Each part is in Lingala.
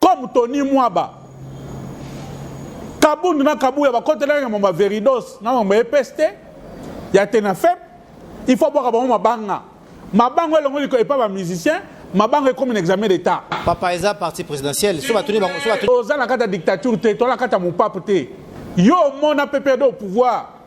comme tony mwaba kabundu na kabuya bakotelaki na mama veridos na mama epes te ya te na fep il faut abwaka bango mabanga mabanga elongo liko epa bamusicien mabanga ekomi na examen d'état papa eza parti présidentiel so batuni bango so batuni oza na kati ya dictature te toza na kati ya mopape te yo omona ppd au pouvoir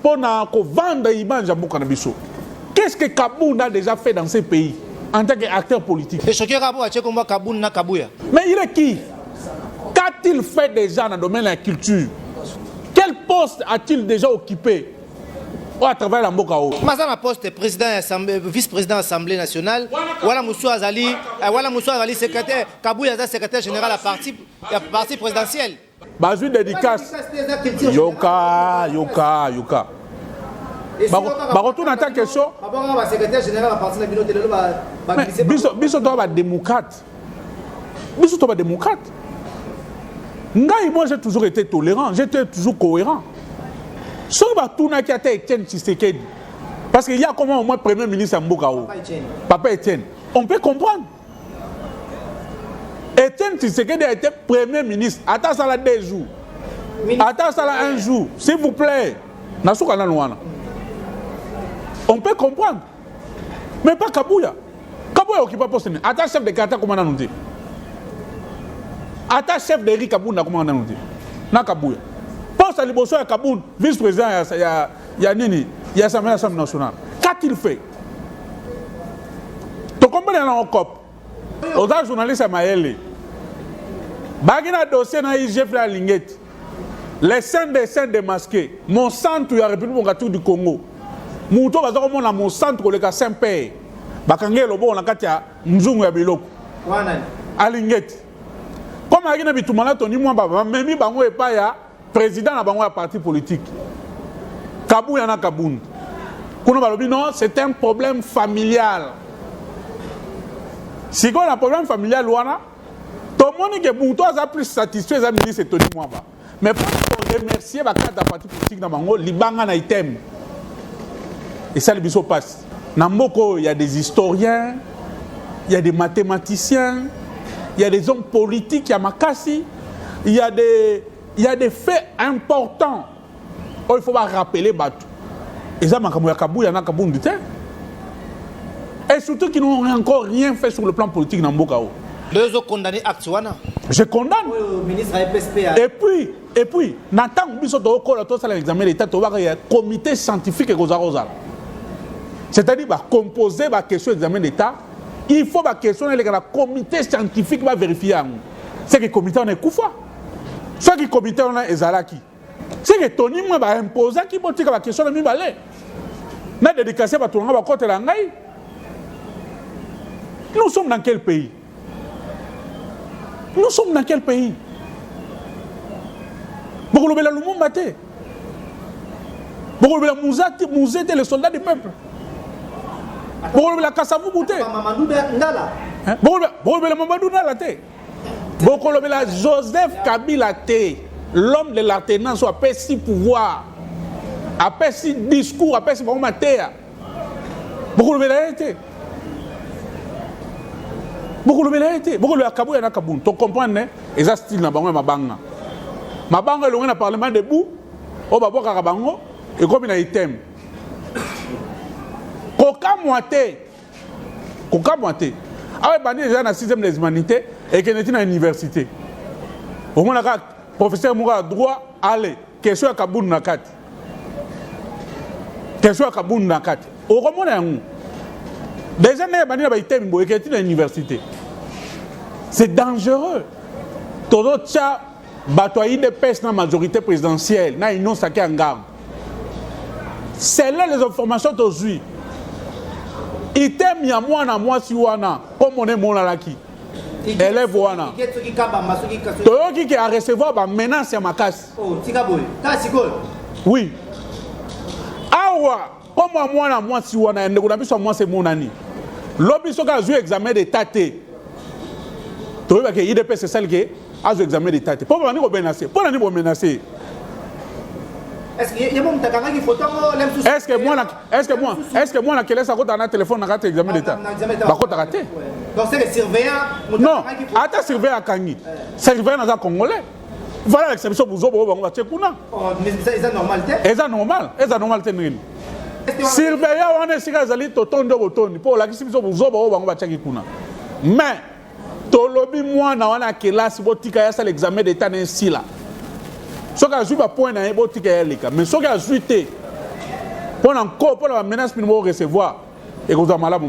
Mpo na ko vendre image ya mboka na biso. Qu'est-ce que Kabund a déjà fait dans ce pays en tant qu'acteur politique? Et ce qui est rapport à Tchekomba Kabund na Kabuya. Mais il est qui? Qu'a-t-il fait déjà dans le domaine de la culture? Quel poste a-t-il déjà occupé? oyo atravers na mboka oyo maza na poste président euh, vice président assemblée nationale wana mosusu azali euh, wana mosusu azali secrétaire kabuya aza secrétaire général ya parti présidentielle bazwi dedicace yoka yoka yoka bakotuna ata question biso toa badémocrate biso toa badémocrate ngai moi j'ai toujours été tolérant j'étais toujours cohérent soki batunaki ata etienne tshisekedi parce que ya koma au moins premier ministre ya mboka o papa etienne on peut comprendre Etienne Tshisekedi a été premier ministre ata asala deux jours ata asala un jour s'il vous plaît nasuka nanu wana on peut comprendre mais pas kabuya kabuya okipa poste nini ata chef de quartier akoma nanu te ata chef de ri kabunda akoma nanu te na kabuya poste ya liboso ya kabund vice président ya, ya, ya nini ya assemblée nationale qu'a-t-il fait tokombela na okop oza journaliste ya mayele baki na dossier na igf na alingeti les saints des saints démasqués mosantu ya république mokatu du congo moto oyo baza komona mosantu koleka saint père bakangi eloboko na kati ya nzungu ya biloko alingeti comme ayaki na bitumba na toni mwamba bamemi bango epai ya president na bango ya parti politique kabuya na kabund kuna balobi non c'est un problème familial sikoyo na problème familial wana tomoni ke moto aza plus satisfait eza ministre tony mwamba mais mpo koremercie bakarte ya parti politique na bango libanga na item esali biso mpasi na mboka oyo ya des historiens ya des mathématiciens ya des hommes politiques ya makasi il y a des il y a des faits importants oh, il faut ba rappeler bato eza makambo ya kabuya na kabundu te et surtout qui n'ont encore rien fait sur le plan politique na mboka oyo bezo condamner acte wana je condamne oh, ministre ya PSPA et puis et puis na ntango biso tokokola tosala examen d'état tobaka ya comité scientifique ekozala kozala c'est-à-dire bacompose baquestion examen d'état il faut baquestion eleka na comité scientifique baverifie yango seke komite wana ekufa soki komite wana ezalaki seke toni mwa baimposaki botika bakestion na mibale na dedikase bato na ngai bakotela ngai nous sommes dans quel pays nous sommes dans quel pays bokolobela lumumba te bokolobela muza te muze te le soldat du peuple bokolobela kasavubu te bokolobela mamadou ndala te bokolobela joseph kabila te l'homme de l'alternance oyo apesi pouvoir apesi discours apesi bango mateya bokolobela ye te bokolobela ye te bokolobela kabuya na kabund tocomprendre ne eza style na bango ya mabanga mabanga elongi na parlement debout oyo babwakaka bango ekomi na item kokamwa te kokamwa te awa ebandi eza na 6 des humanité ekende ti na université omonaka professeur moko ya droit ale Question ya kabundu na kati. Question ya kabundu na kati. Okomona yango. Déjà na bandi na ba itemi boye keti na université. C'est dangereux. Todo tcha bato ya idps na majorité présidentielle na union sake ya ngambo selon les informations tozwi item ya mwana mwasi wana komona emonanaki elève wana toyoki ke arecevoir bamenace ya makasi oh, oui awa koma mwana mwasi wana ya ndeko na biso ya mwasi emonani lobi soki azwi examen d'etat te toyebake idps esali ke azo examen d'etat te mpo babandi komenase mpo na nini bomenase ye Est-ce que moi, est-ce que moi, est-ce que moi la kelesa akota na téléphone na kati examen d'état. Bakotaka te. Donc c'est le surveillant. Non, ata surveillant akangi. Surveillant naza congolais. Voilà l'exception buzo bo bango batie kuna. Oh, mais ça c'est normal te. Eza normal, eza normal te nini? Surveillant wana esika ezali totondo botondi mpo olakisi biso buzoba oyo bango batiaki kuna. Mais tolobi mwana wana ya kelasi botika ye asala examen d'etat na esila soki azwi bapoint na ye botika ye aleka mais soki azwi te mpo na nko mpo na bamenace mini bokorecevoir ekozwa malamu